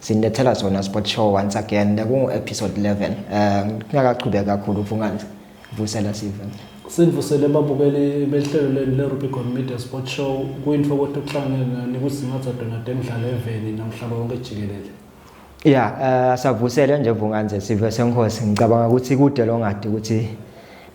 sinilethela sona sport show once again kungu episode 11 um eh, ngingakaqhubeki kakhulu uvungandla vusela sive sinivusele babukeli behlelo lenu le-rubicon media sport show kuyinto ukuthi ukuhlangene nani kusingatha donade emdlalo eveni nomhlaba wonke jikelele ya um asavusele nje vunganze sive senkosi ngicabanga ukuthi kude longadi ukuthi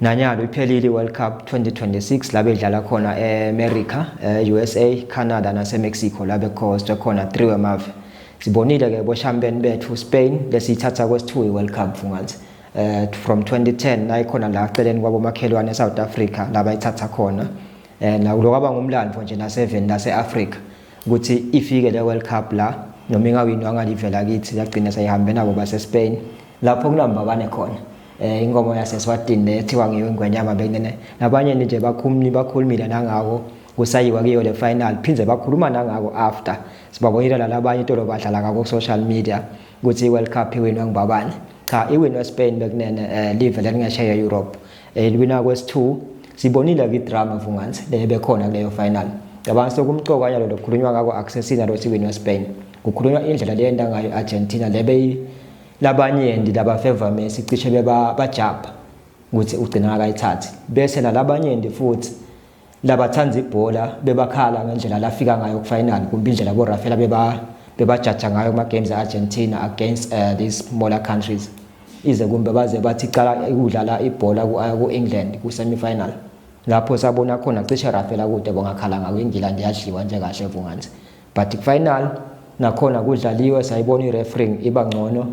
Nanyalo iphelile iWorld Cup 2026 la bedlala khona eAmerica, e-USA, eh, Canada naseMexico la bekhostwe khona 3 wemave. Sibonile ke boshampeni bethu Spain lesiyithatha kwesithu iWorld Cup Funganzi. Eh from 2010 la ikhona la celeni kwabomakhelwane eSouth Africa la bayithatha khona. Eh nakulo kwaba ngumlando nje naseven laseAfrica ukuthi ifike le World Cup la noma ingawinwa ngalivela kithi yagcina seyihambena boba seSpain lapho kunambabane khona. eh ingoma yaseswatini le ethiwa ngiyo ingwenyama bekunene nabanye nje bakhumni bakhulumile nangako kusayiwa kiyo le final phinde bakhuluma nangako after sibabonile lalabanye itolo badlala ngako social media ukuthi i-world cup iwinwe ngubabani cha iwinwe spain bekunene eh, live lelingesheya europe eliwina eh, kwesi-two sibonile kwi-drama vungansi le bekhona kuleyo final cabanga sokumcoka nyalo lokukhulunywa ngako akusesina lo siwinwe spain kukhulunywa indlela leyenda ngayo i-argentina le beyi labanyenti labafeva Messi cishe beba bajabha ukuthi ugcina akayithathi bese nalabanyenti futhi labathanda ibhola bebakhala ngendlela lafika ngayo kufinal kumbe indlela bo Rafaela beba bebajaja ngayo kuma games eArgentina against uh, these smaller countries ize kumbe baze bathi cala ukudlala ibhola ku uh, England ku semifinal lapho sabona khona cishe Rafaela kude bongakhala ngayo ingila ndiyadliwa nje kahle vunganzi but final nakhona kudlaliwe sayibona i-refering iba ngcono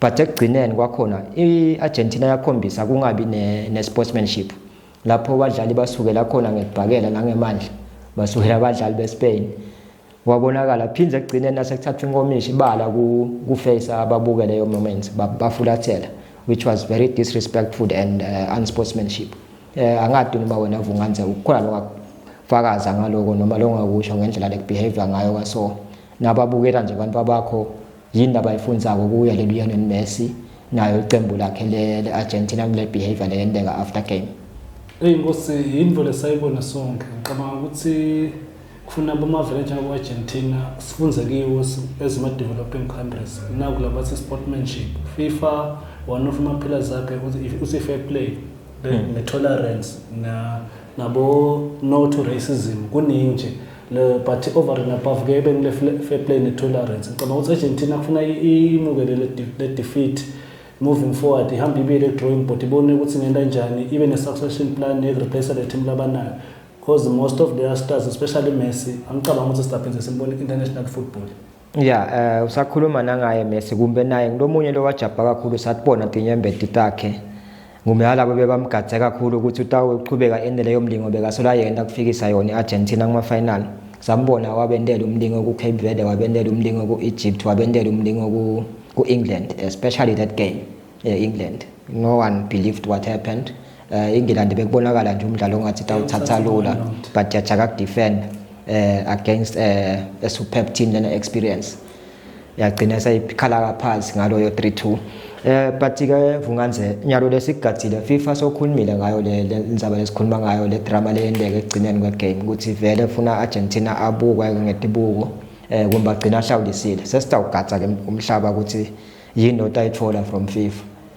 but ekugcineni kwakhona i-argentina yakhombisa kungabi ne-sportsmanship ne lapho abadlali basukela khona ngekubhakela nangemandla basukela abadlali bespain wabonakala phinde ekugcineni nasekuthathwa inkomishi ibala kufeyisa ababuke leyo moment bafulathela which was very disrespectful and uh, unsportsmanship eh angadi noma wena vunganze ukhona lokufakaza ngaloko noma longakusho ngendlela lekubehavior ngayo kwaso nababukela nje abantu babakho yini abayifundzako kuya lelionel messi nayo iqembu lakhe le-argentina kule behavior leyenteka after game eyi nkosi yinto lesayibona sonke ngicabanga ukuthi kufuna abamavele njengabo-argentina sifunze kiwo ezima-developing countries nakulaba se-sportmanship fifa one of ama-pillars akhe uthi i-fair play Hmm. ne-tolerance nabo-no to racism kuningi nje but over and above ke benile fair play ne-tolerance ngicabanga ukuthi argentina kufuna imukele le-defeat moving forward ihambe ibuyele ku-drawing board ibone ukuthi ngenta njani ibe ne-succession plan yokureplace le team labanayo because most of their stars especially messi angicabanga ukuthi sidaphinde simbone i-international football ya eh usakhuluma nangaye Messi kumbe naye ngilomunye lowajabha kakhulu satibona tinyembeti takhe ngumyalabo bebamgadze kakhulu ukuthi utawuqhubeka ende leyo mlingo bekasola yena kufikisa yona i-argentina kuma-final sambona wabendela umlingo ku-cape verde wabendela umlingo ku-egypt wabendela umlingo ku-england especially that game e-england no one believed what happened eh ingilandi bekubonakala nje umdlalo ongathi tawuthatha lula but yajaka ku defend eh against eh a superb team lena experience yagcina sayikhala phansi ngaloyo 32 eh but ke vunganze nyalo lesigadile FIFA sokhulumile ngayo le indaba lesikhuluma ngayo le drama leyendeke ekugcineni kwe game ukuthi vele funa Argentina abukwe ngetibuko eh kumbe agcina ahlawulisile sesitawugatsa ke umhlaba ukuthi yini otayithola from FIFA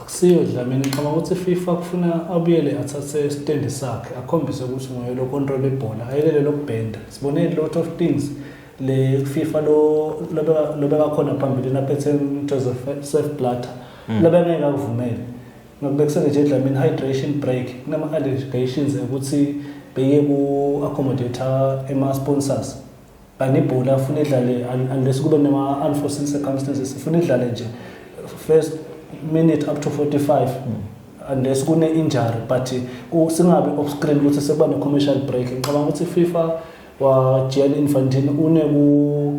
Akusiyo Dlamini, ngicabanga ukuthi FIFA kufuna abuyele athathe isitendi sakhe akhombise ukuthi nguye lo control ibhola, ayekele lokubhenda. Sibone a lot of things le FIFA lo lobeka lobeka khona phambilini aphethe Joseph Sepp Blatter. Mm. Lobeka ngeke akuvumele. Ngakubekisele nje Dlamini hydration break kunama allegations ukuthi beye ku accommodator ema sponsors. and ibhola afuna idlale unless kube nema unforeseen circumstances ifuna idlale nje first minute up to 45 unless kune injury but singabi off screen ukuthi sekuba ne commercial break ngicabanga ukuthi FIFA wa Gianni Infantino une ku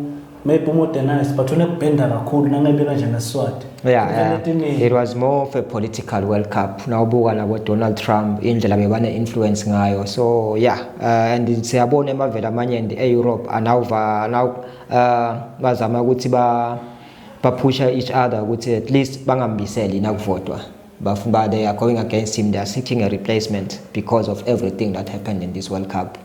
maybe umodernize but unekubhenda kakhulu nangebeka nje neswati Yeah, yeah. It was more of a political World Cup. Nawubuka nabo Donald Trump indlela bebane influence ngayo. So yeah, uh, and siyabona emavela amanye and e-Europe anawuva now uh, bazama ukuthi ba baphusha each other ukuthi at least bangambiseli nakuvotwa. Bafuna they are going against him. They are seeking a replacement because of everything that happened in this World Cup.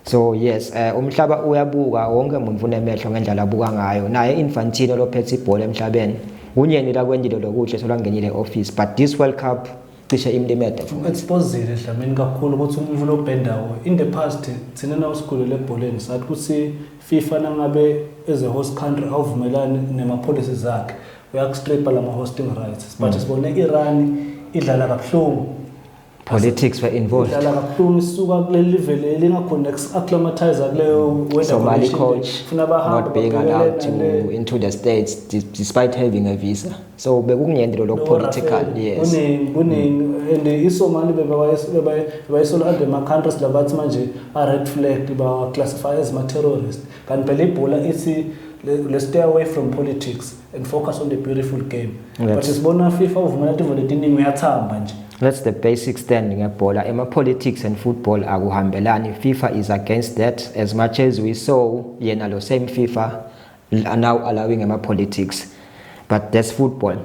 so yes eh umhlaba uyabuka wonke umuntu unemehlo ngendlela abuka ngayo naye Infantino lophethe ibhola emhlabeni unyeni la kwendilo lokuhle solwangenile office but this world cup cishe imlimede futhi exposile dlamini kakhulu ukuthi umuntu lobhendawo in the past thina na usigulu lebholeni sathi ukuthi FIFA nangabe as a host country awuvumelani nema policies zakhe uyakustripa lama hosting rights but mm. sibone iRan idlala kabuhlungu politics were involved dlala kabuhlungu isuka kuleli live leli ngakhona acclimatize kuleyo Somali coach funa bahambe not being allowed to into the states despite having a visa so bekungiyende lo political yes kuningi kuningi and iSomali bebayisola under ma countries labathi manje a red flag ba classify as ma terrorist kanti phela ibhola ithi let's stay away from politics and focus on the beautiful game Let's. but sibona FIFA uvumela tivo letiningi uyathamba nje That's the basic stand ngebhola ema politics and football akuhambelani FIFA is against that as much as we saw yena lo same FIFA are now allowing ema politics but that's football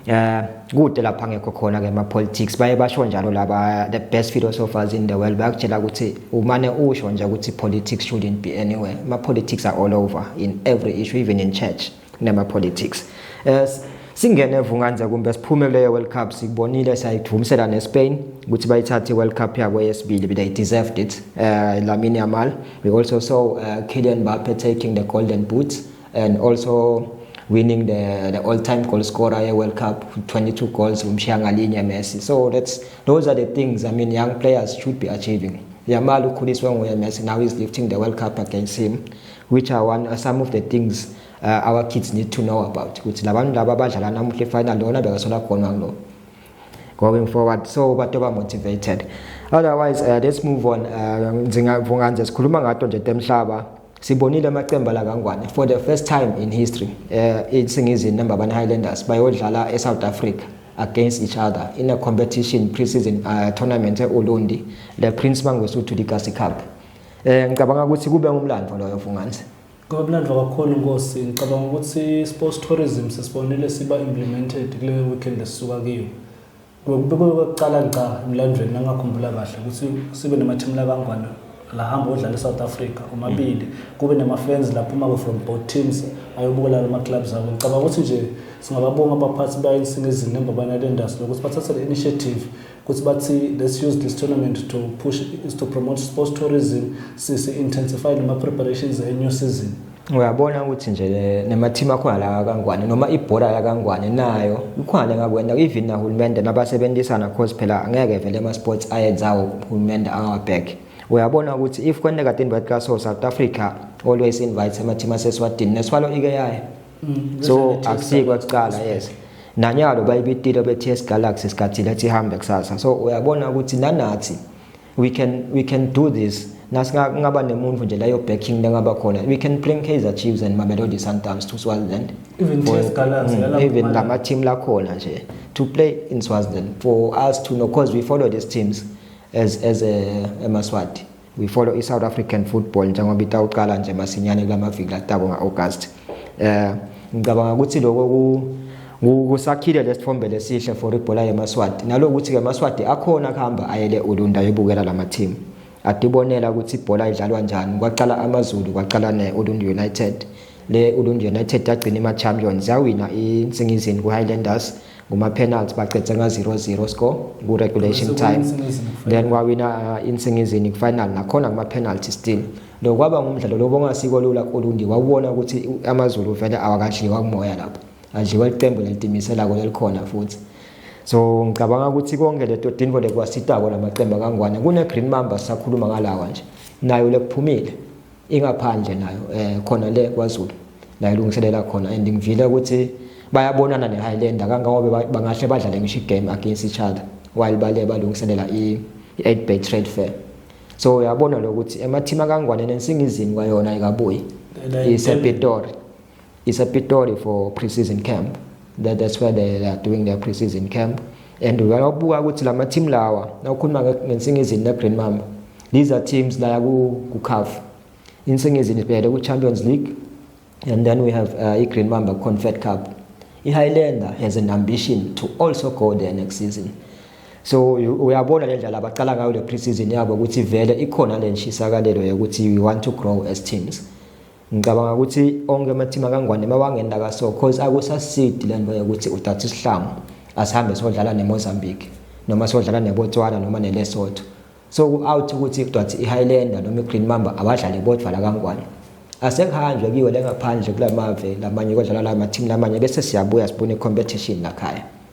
eh kude lapha ngekho khona ke ma politics baye basho njalo laba the best philosophers in the world bayakutshela ukuthi umane usho nje ukuthi politics shouldn't be anywhere ma politics are all over in every issue even in church nema politics as singene vunganze kumbe siphume kuleyo world cup sikubonile sayithumisela nespain ukuthi bayithathe world cup yabo yesibili but they deserved it uh, lamine yamal we also saw uh, kylian mbappe taking the golden boot and also winning the, the all-time goal scorer ye world cup 22 goals umshiya ngalinye messi so that's those are the things i mean young players should be achieving yamal ukhuliswe nguye messi now he's lifting the world cup against him which are one, uh, some of the things uh, our kids need to know about ukuthi labantu laba abadlala namuhla ifinal lona bekasola khona lo going forward so bato ba motivated otherwise uh, let's move on uh, ndingavunga nje sikhuluma ngato nje temhlaba sibonile amaqembu la kangwane for the first time in history uh, isingizini number 1 Highlanders bayodlala eSouth Africa against each other in a competition pre-season uh, tournament eUlundi the Prince Mangosuthu Legacy Cup Eh ngicabanga ukuthi kube umlando loyo Vungandle. Ngoba umlando kakhulu inkosi ngicabanga ukuthi sports tourism sesibonile siba implemented kule weekend esisuka kiyo. Kube kokuqala ngca emlandweni ngakhumbula kahle ukuthi sibe nama team la kangwane la hamba odlala eSouth Africa omabili kube nama fans lapho uma from both teams ayobukela lama clubs abo ngicabanga ukuthi nje singababonga abaphathi bayinsinga izinto embabana le industry ukuthi bathathe le initiative ukuthi bathi let's use this tournament to push is to promote sports tourism sisi intensify nama preparations e new season uyabona ukuthi nje nemathimu akhona la kangwane noma ibhola la kangwane nayo ikhona ngakwenda even nahulumende nabasebenzisana cause phela angeke vele ama sports ayenzawo uhulumende angawabheki uyabona ukuthi if kwendeka tinvat kaso south africa always invites amathimu aseswatini neswalo ike yayo mm, so akusiyi kwakuqala yes nanyalo bayibitile be-ts galaxy sikhathini ethi ihambe kusasa so uyabona ukuthi nanathi we can, we can do this nasingaba nemuntu nje leyo backing lengaba khona we can bring kaizer chiefs and mamelodi sundowns to swaziland even, for, Galaxy, mm, even ngamateam lakhona nje to play in swaziland for us to know because we follow these teams as, as a, a maswati We follow i-South African football njengoba itawuqala nje masinyane kula maviki latako nga-August. Eh ngicabanga ukuthi lokho kusakhile lesithombe lesihle for ibhola yemaswati naloku ukuthi ke maswati akhona kuhamba ayele ulunda yobukela lama team adibonela ukuthi ibhola idlalwa njani kwaqala amazulu kwaqala ne-olund united Le Ulunje United yagcina ima-champions yawina insingizini ku-highlanders nguma-penalty baqede nga-0-0 score ku-regulation time then wawina uh, insingizini ku-final nakhona nguma-penalty still lo kwaba ngumdlalo lo bongasiko lula kulundi wawubona ukuthi amazulu vele awakadliwa kumoya lapho adliwa liqembu nelitimiselako lelikhona futhi so ngicabanga ukuthi konke leto dinvo lekwasitako lamaqembu akangwane kune-green mamba sisakhuluma ngalawa nje nayo lekuphumile ingaphandle nayo eh khona le kwaZulu la ilungiselela khona and ngivile ukuthi bayabonana neHighlander kangangobe bangahle badlale ngisho igame against each other while bale balungiselela i-8 bay trade fair so uyabona lokuthi emathima kangwane nensingizini kwayona ikabuyi isepitori It's a Pitori for pre-season camp. That, that's where they, they are doing their pre-season camp. And uyabuka ukuthi lama team lawa nawukhuluma ngesingizini ne Green Mamba. These are teams la ku ku CAF. Insingizini ibheke ku Champions League and then we have uh, i Green Mamba Confed Cup. I Highlander has an ambition to also go there next season. so uyabona le ndlela abaqala ngayo le pre-season yabo ukuthi vele ikhona le nshisakalelo yokuthi we want to grow as teams ngicabanga ukuthi onke amathima kangwane mawangenda kaso cause akusasidi le nto yokuthi udatha isihlangu asihambe sodlala nemozambique noma sodlala nebotswana noma nelesotho so ku-out ukuthi kudwathi i-highlander noma i-green mamba abadlali bodwa la kangwane asekuhanjwe kiwo lengaphandle kula mave lamanye kodlala la mathimu lamanye bese siyabuya sibone i-competition lakhaya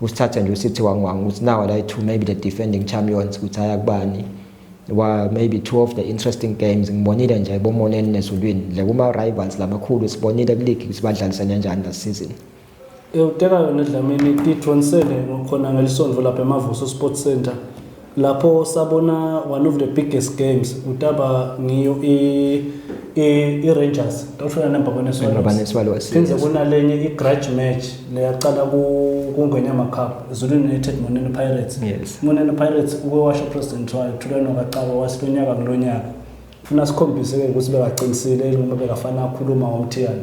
usithatha nje usithi wangwanga ukuthi nawa la two maybe the defending champions ukuthi haya kubani wa maybe two of the interesting games ngibonile nje bomoneni nezulwini le kuma rivals lamakhulu sibonile kuleague ukuthi badlalisene kanjani la season Euteka yona edlamini T27 ngokhona ngelisonto lapha eMavuso Sports Center lapho sabona one of the biggest games utaba ngiyo i-rangers tofuna nambabaneswallows phinde kunalenye i-grudge match leyaqala kungwenyama cup zulu united monene pirates yes. monene pirates uke washo president wayo thulano kacaba wasi lo nyaka kulo nyaka funa sikhombise-ke ukuthi bekaqinisile noma bekafana akhuluma ngomthiyane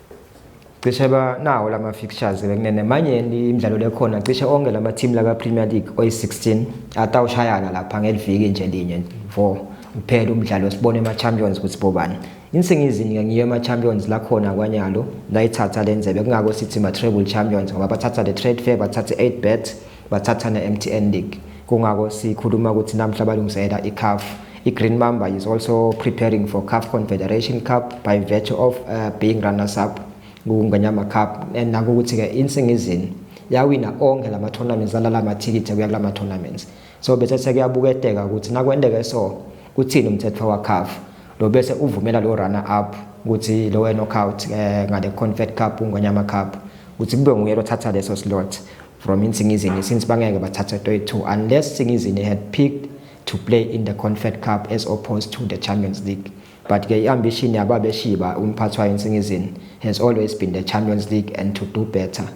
cishe banawo lama fixtures bekunene manje imidlalo lekhona cishe onke lama team laka Premier League oyi16 atawushayana lapha ngeliviki nje linye vo kuphela umdlalo sibone ama champions ukuthi bobani insingizini ke ngiyo ama champions la khona kwanyalo layithatha lenzebe kungako sithi ma treble champions ngoba bathatha le trade fair bathatha 8 bet bathathana eMTN League kungako sikhuluma ukuthi namhla balungiselela iCAF iGreen Mamba is also preparing for CAF Confederation Cup by virtue of uh, being runners up kuNganyama Cup and nakukuthi ke insingizini yawina onke lama tournaments alala amathikithi kuya kulama tournaments so bese sekuyabuketeka ukuthi nakwendeke so uthini umthetho waCAF lo bese uvumela lo runner up ukuthi lo knockout eh, ngale Confed Cup uNganyama Cup ukuthi kube nguye lothatha leso slot from Insingizini since bangeke bathathe toy-two unless Singizini had picked to play in the Confed Cup as opposed to the Champions League. But ke i-ambition yababeshiba umphathi wayo Insingizini has always been the Champions League and to do better.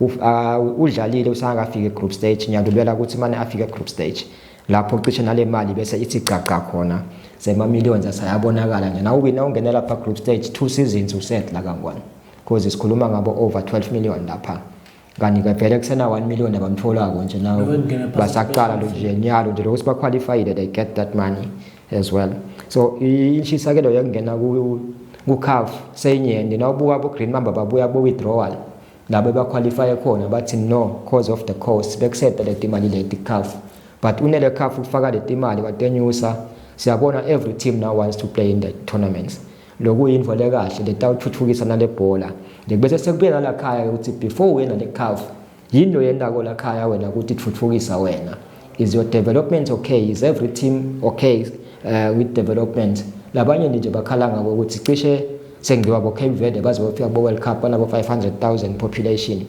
Uh, udlalile usangakafika e-group stage ngiyadubela ukuthi mane afike e-group stage lapho cishe nale mali bese ithi gcagca khona sema-millions asayabonakala nje nawe wina ungene lapha group stage two seasons usedla kangwana because sikhuluma ngabo over 12 million lapha kanti ke vele kusena 1 million abamtholako nje nawo basaqala lo nje nyalo nje lokuthi baqualified they get that money as well so inshisakelo yokungena ku kuCAF seyinyende nawubuka bo Green Mamba babuya bo withdrawal labo baqualify khona bathi no cause of the cost bekusephe le timali leti CAF but unele CAF ukufaka le timali watenyusa siyabona every team now wants to play in the tournaments lokuyinvo lekahle letawutfutfukisa nalebhola bese sekubuye nalakhaya ukuthi before wena le-calf yini loyentako lakhaya wena ukuthi tfutfukisa wena is your development okay is every team okay uh, with development labanye nje bakhala ngako ukuthi cishe sengiwa bo Cape Verde baze bafika bo World Cup banabo 500,000 population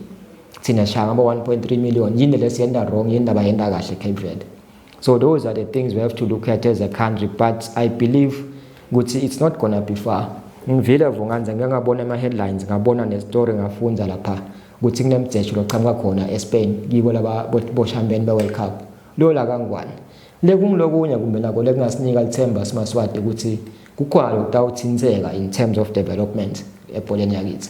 thina shaya ngabo 1.3 million yini lesiyenda wrong yini ndaba yenda kahle Cape Verde so those are the things we have to look at as a country but i believe ukuthi it's not gonna be far ngivile vunganza ngike ngabona ama-headlines ngabona nestory ngafunda lapha ukuthi kunemjejo loqhamuka khona espain kibo laba boshambeni be-world cup lola kangwane le kungilokunye kumbe nako lekungasinika lithemba simaswati ukuthi kukhona lokutawuthinseka in terms of development ebholeni yakithi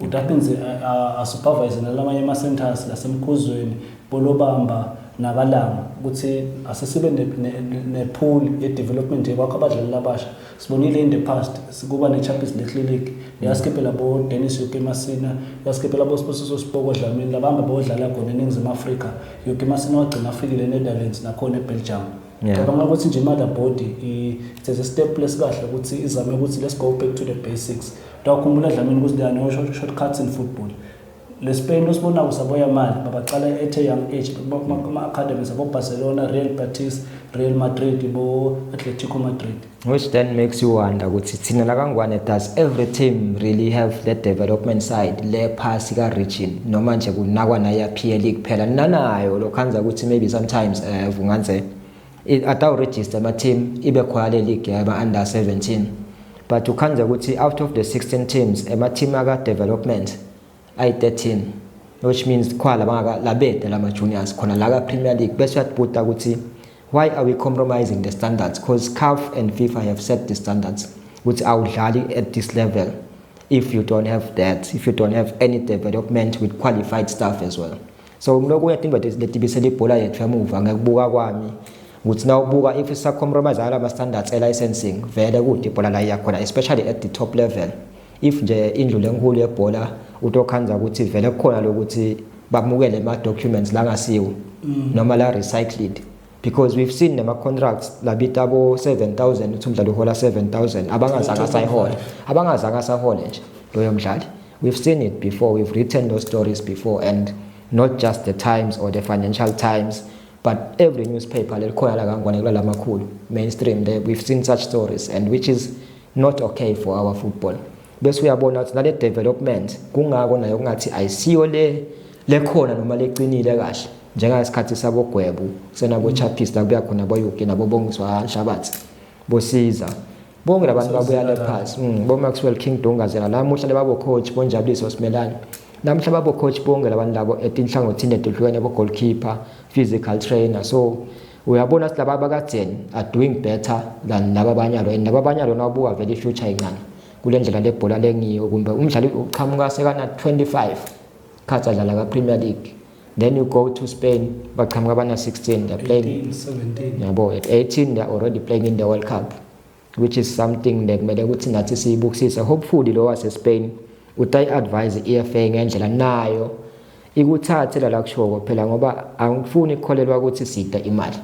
UDuckens asupervise nalamanye ama-centres laseMkhuzweni, Polobamba naKalama ukuthi asesibe ne-pool ye-development yekwakha abadlali abasha. Sibonile in the past kuba ne-Champions League Clinic yasikhiphela bo-Dennis Yoki Masina, yasikhiphela bo-Sbusiso Siboko Dlamini, labamba beyodlala khona eNingizimu Afrika. Yoki Masina wagcina afikile eNetherlands nakhona eBelgium. Yeah. Ngicabanga ukuthi nje mother body it's a step lesikahle ukuthi izame ukuthi let's go back to the basics. Dawukhumbula dlamini ukuthi there are no short, shortcuts in football. Le Spain osibona kusaboya mali babaqala at a young age kuma academies abo Barcelona, Real Betis, Real Madrid, bo Atletico Madrid. which then makes you wonder ukuthi thina lakangwane does every team really have the development side le phasi ka-region noma nje kunakwa naya-pl kuphela nanayo lokhanza ukuthi maybe sometimes um eh, vunganze atawurejista ama-team ibe khona le league yama-under 17 but ukhanza ukuthi out of the 16 teams ema-team aka-development ayi-13 which means khona labangaka labede lama juniors khona la ka Premier League bese uyatbuta ukuthi why are we compromising the standards because CAF and FIFA have set the standards ukuthi awudlali at this level if you don't have that if you don't have any development with qualified staff as well so ngilokhu uyadinga ukuthi letibisele ibhola yethu emuva ngekubuka kwami ukuthi na ubuka if isa compromise ala standards e licensing vele kude ibhola la iyakhona especially at the top level if nje indlu lenkulu yebhola utokhanza ukuthi vele kukhona lokuthi bamukele ama documents la ngasiwo mm. noma la recycled because we've seen nama contracts labita bo 7000 uthi umdlali uhola 7000 abangazanga sayihola abangazanga sahole nje loyo mdlali we've seen it before we've written those stories before and not just the times or the financial times but every newspaper lelikhona la kangwane kula lamakhulu mainstream there we've seen such stories and which is not okay for our football bese uyabona ukuthi nale development kungako nayo kungathi ayisiyo le lekhona noma leqinile kahle njengasikhathi sabogwebu senabo chapis la kuya khona boyuki nabo bongiswa nshabathi bosiza bonke labantu babuya le pass mm, bo Maxwell King Dongazela namuhla lebabo coach bonjabuliso simelana namhla babo coach bonke labantu labo etinhlangothini edehlukene bo goalkeeper physical trainer so uyabona ukuthi laba bakajeni are doing better than laba abanye alo and laba abanye alo nawabuka vele i-future incane kule ndlela lebhola lengiyo kumbe umdlali uqhamuka sekana-25 khathi adlala ka-premier league then you go to spain baqhamuka abana-16 they're playing yabo at 18 they're already playing in the world cup which is something le kumele ukuthi nathi siyibukisise hopefully lo waseSpain utayi advise iFA ngendlela nayo ikuthathe la kushoko phela ngoba angifuni ukukholelwa ukuthi sida imali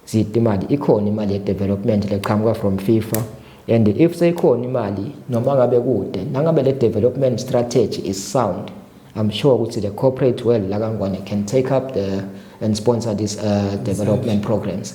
sida imali ikhona imali yedevelopment leqhamuka from FIFA and if seyikhona imali noma ngabe kude nangabe le development strategy is sound i'm sure ukuthi the corporate world la kangwane can take up the and sponsor these uh, development programs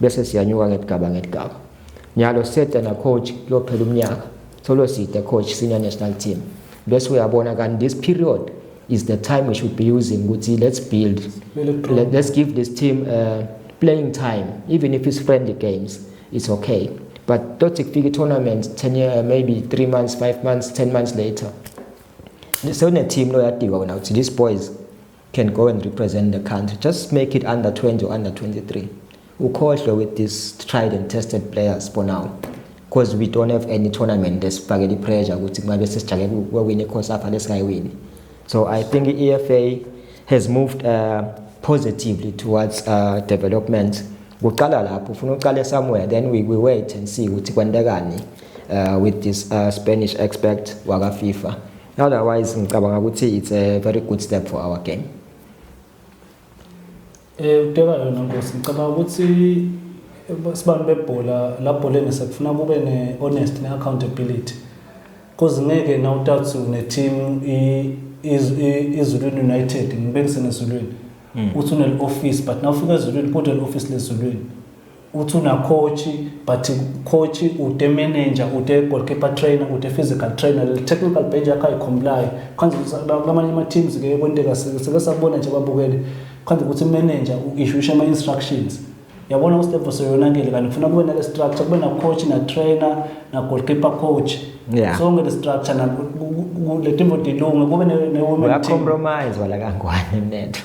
bese siyanyuka ngedigaba ngedigaba nyalo seta na coach kuyophela umnyaka solo sita coach senior national team bese uyabona kanti this period is the time we should be using ukuthi let's build Let, let's give this team uh, playing time even if it's friendly games it's okay but tothi kufika i-tournament 10 year, uh, maybe 3 months 5 months 10 months later sewune-team loyadikwa wena ukuthi these boys can go and represent the country just make it under 20 or under 23 ukhohlwe with this tried and tested players for now because we don't have any tournament esifakele ipressure ukuthi kungabe sesijake kwewini icosafa lesingayiwini so i think i-efa has moved uh, positively towards uh, development kuqala lapho ufuna uqale somewhere then we, we wait and see ukuthi kwentekani uh, with this uh, spanish expert wakafifa otherwise ngicabanga ukuthi it's a very good step for our game eh uteka yona ngosi ngicabanga ukuthi sibantu bebhola labholeni sekufuna kube ne-honest ne-accountability cause ngeke na utatsu ne-team izulwini united ngibekise nezulwini hmm. uthi une-office but na ufika ezulwini kodwa le-office lezulwini uthi unacoach but coach ude manager ude goalkeeper trainer ude physical trainer le technical bench yakhe ayikhombulayo khanze lamanye ama-teams ke kwenteka sike sabona nje babukele khanze ukuthi manager u-ishusha ama-instructions yabona uStefo seyonakele kanti kufuna kube nale structure kube na-coach na-trainer na-goalkeeper coach yeah. sonke le structure le timbo dilunge kube ne-women team uyacompromise wala kangwane mnetho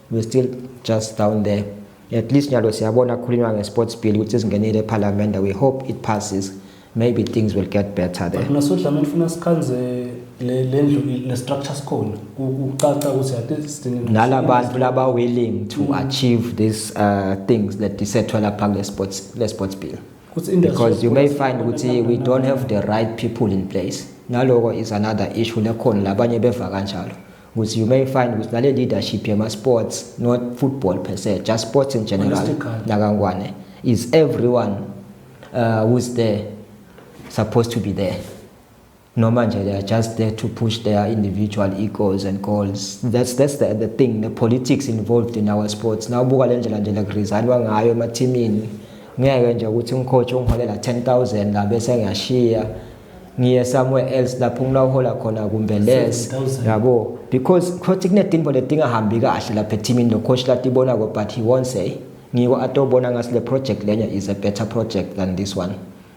we still just down there at least nyalo siyabona kukhulunywa nge-sports bill ukuthi singenile ephalamende we hope it passes maybe things will get better there nasodlameni funa sikhanze le ndlu le structure sikhona kucaca ukuthi ade sidinga nalabantu laba willing to mm. achieve these uh, things that disethwa lapha kule sports le sports bill because you may find ukuthi we don't have the right people in place naloko is another issue lekhona labanye beva kanjalo ukuthi you may find ukuthi nale leadership yama sports not football per se just sports in general nakangwane is everyone uh, who's there supposed to be there noma nje they are just there to push their individual egos and goals that's that's the, the thing the politics involved in our sports now buka le ndlela nje la kurizalwa ngayo emathimini ngeke nje ukuthi umcoach ungiholela 10000 la bese ngiyashiya ngiye somewhere else lapho ngina uhola khona kumbe less yabo because khothi kunedimbo ledingahambi kahle lapha ethimini lo coach latibona ko but he won't say ngiko atobona ngasi le project lenya is a better project than this one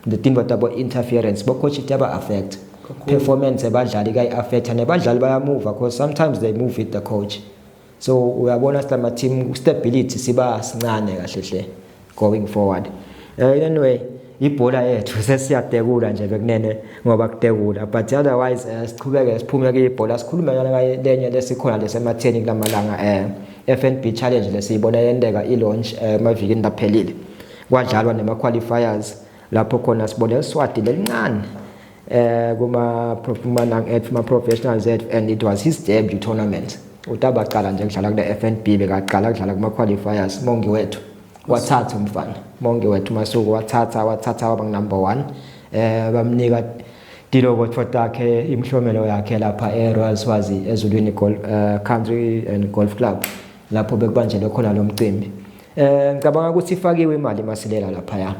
the timbo tabo interference bo coach taba affect performance ebadlali kayi affect nebadlali bayamuva because sometimes they move with the coach so uyabona silama team stability siba sincane kahle hle going forward uh, anyway ibhola yethu sesiyatekula nje bekunene ngoba kutekula but otherwise uh, siqhubeke siphume kuyibhola sikhulume yona kaye lenye lesikhona lesematheni kulamalanga eh uh, FNB challenge lesiyibona yendeka ilaunch eh, emavikini uh, laphelile kwadlalwa nema qualifiers lapho khona sibone iswati lelincane eh kuma kuma nang at kuma professionals at and it was his debut tournament utaba qala nje kudlala kule FNB bekaqala kudlala kuma qualifiers mongi wethu wathatha umfana mongi wethu masuku wathatha wathatha waba number 1 eh bamnika diloko thotakhe imhlomelo yakhe lapha e Royal Swazi ezulwini golf uh, eh, country and golf club lapho bekubanjelwe khona lo mcimbi eh ngicabanga ukuthi ifakiwe imali masilela lapha ya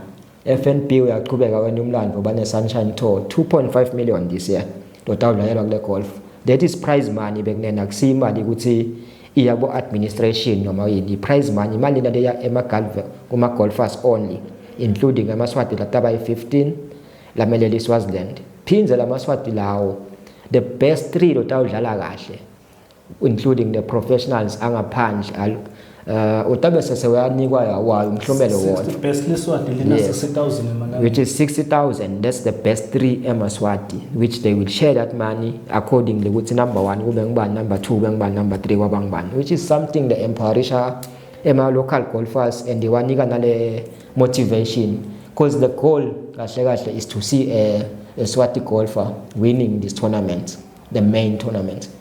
FNB uyaqhubeka wena umlando bane Sunshine Tour 2.5 million this year ndoda udlalelwa kule golf that is prize money bekunena kusimali ukuthi iya ku administration noma yini i prize money imali lento ya ema golf kuma golfers only including amaswati lataba i15 lameleli Swaziland phindze lamaswati lawo the best 3 lotawudlala kahle including the professionals angaphandle al uh, utabe sese uyanikwa wayo umhlomelo wona the best leswati lina yes. 60000 emalanga which is 60000 that's the best 3 emaswati which they will share that money accordingly ukuthi number 1 kube ngubani number 2 kube ngubani number 3 kwaba ngubani which is something the empowerisha ema local golfers and iwanika nale motivation because the goal kahle kahle is to see a, a swati golfer winning this tournament the main tournament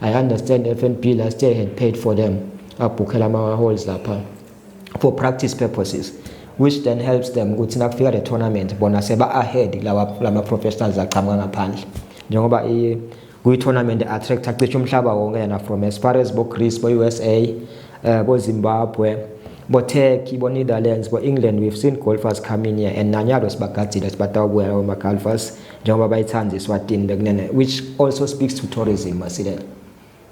I understand FNB last year had paid for them abhukhela ama halls lapha for practice purposes which then helps them ukuthi nakufika le tournament bona seba ahead lawa lama professionals aqhamuka ngaphandle njengoba i kuyi tournament attract acishe umhlaba wonke yena from as far as bo Greece bo USA uh, eh, bo Zimbabwe bo Turkey bo Netherlands bo England we've seen golfers coming here and nanyalo sibagadile sibatawubuya lawo ma golfers njengoba bayithanda iSwatini bekunene which also speaks to tourism masilela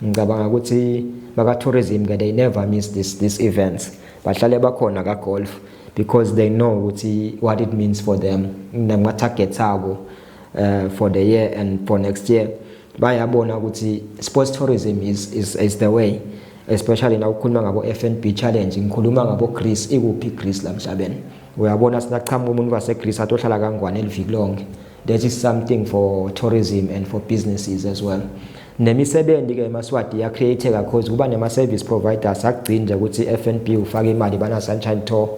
ngicabanga ukuthi baka tourism ke they never miss this this events bahlale bakhona ka golf because they know ukuthi what it means for them nama targets abo uh, for the year and for next year bayabona ukuthi sports tourism is is, is the way especially na ukhuluma ngabo FNB challenge ngikhuluma ngabo Greece ikuphi Greece lamhlabeni uyabona sinaqhamuka umuntu waseGreece atohlala kangwane eliviki lonke that is something for tourism and for businesses as well nemisebenzi ke emaswadi ya create kakhulu kuba nema service providers akugcinja ukuthi FNB ufake imali bana sunshine tour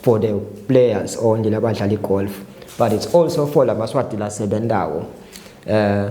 for the players only labadlali golf but it's also for lamaswadi lasebendawo eh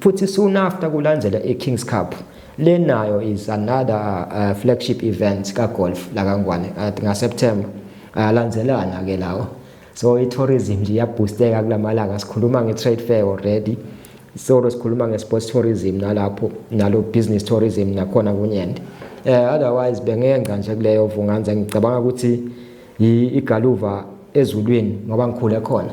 futhi soon after kulandela iKings Cup le nayo is another uh, flagship event kagolf lakangwane at ngaSeptember ayalandelana ke lawo so i-tourism nje iyabhusteka kulamalanga sikhuluma nge-trade fair already solo sikhuluma nge-sports tourism nalapho nalo business tourism nakhona kunyende um uh, otherwise bengenca nje kuleyo vunganza ngicabanga ukuthi igaluva ezulwini ngoba ngikhule khona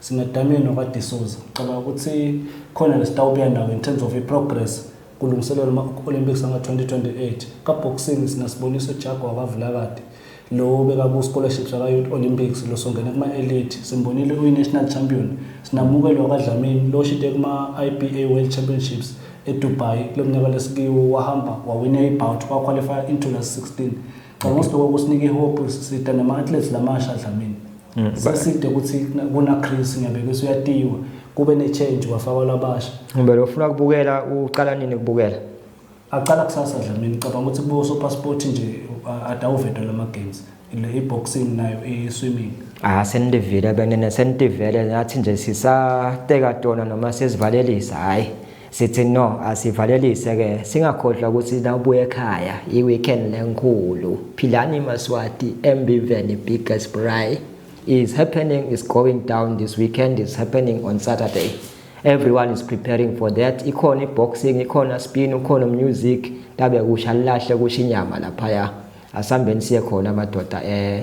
Simadamini wakwaDisoza. Ngicabanga ukuthi khona lesitawubuya nawo in terms of i-progress kulungiselelwa ama-Olympics anga-2028. Ka-boxing sinasiboniso Jaguar wakwaVilakade lo obeka ku-scholarships waka-Youth Olympics lo songene kuma-elite. Simbonile uyi-national champion. Sinamukelo wakwaDlamini lo oshide kuma-IBA World Championships eDubai kulo mnyaka lesikiwo wahamba wawina i-bout wakhwalifaya into last 16. Ngicabanga ukuthi lokho kusinika ihope sisita nama-athletes lamasha Dlamini. Mm. Seside ukuthi kuna Chris ngiyabekisa uyatiwa kube ne change kwafakwa labasha. Ngibele ufuna kubukela uqala nini kubukela? Aqala kusasa Dlamini ngicabanga ukuthi kubo so passport nje adawuvedwa lama games. Le boxing nayo i swimming. Ah senivile benene senivele nathi nje sisateka tona noma sesivalelisa hayi. sithi no asivalelise ke singakhohlwa ukuthi na ubuye ekhaya i weekend lenkulu philani maswati embiveni biggest braai is happening is going down this weekend is happening on saturday everyone is preparing for that ikhona iboxing ikhona spin ukhona music tabe kusha lilahle kusha inyama laphaya asambeni siye khona amadoda eh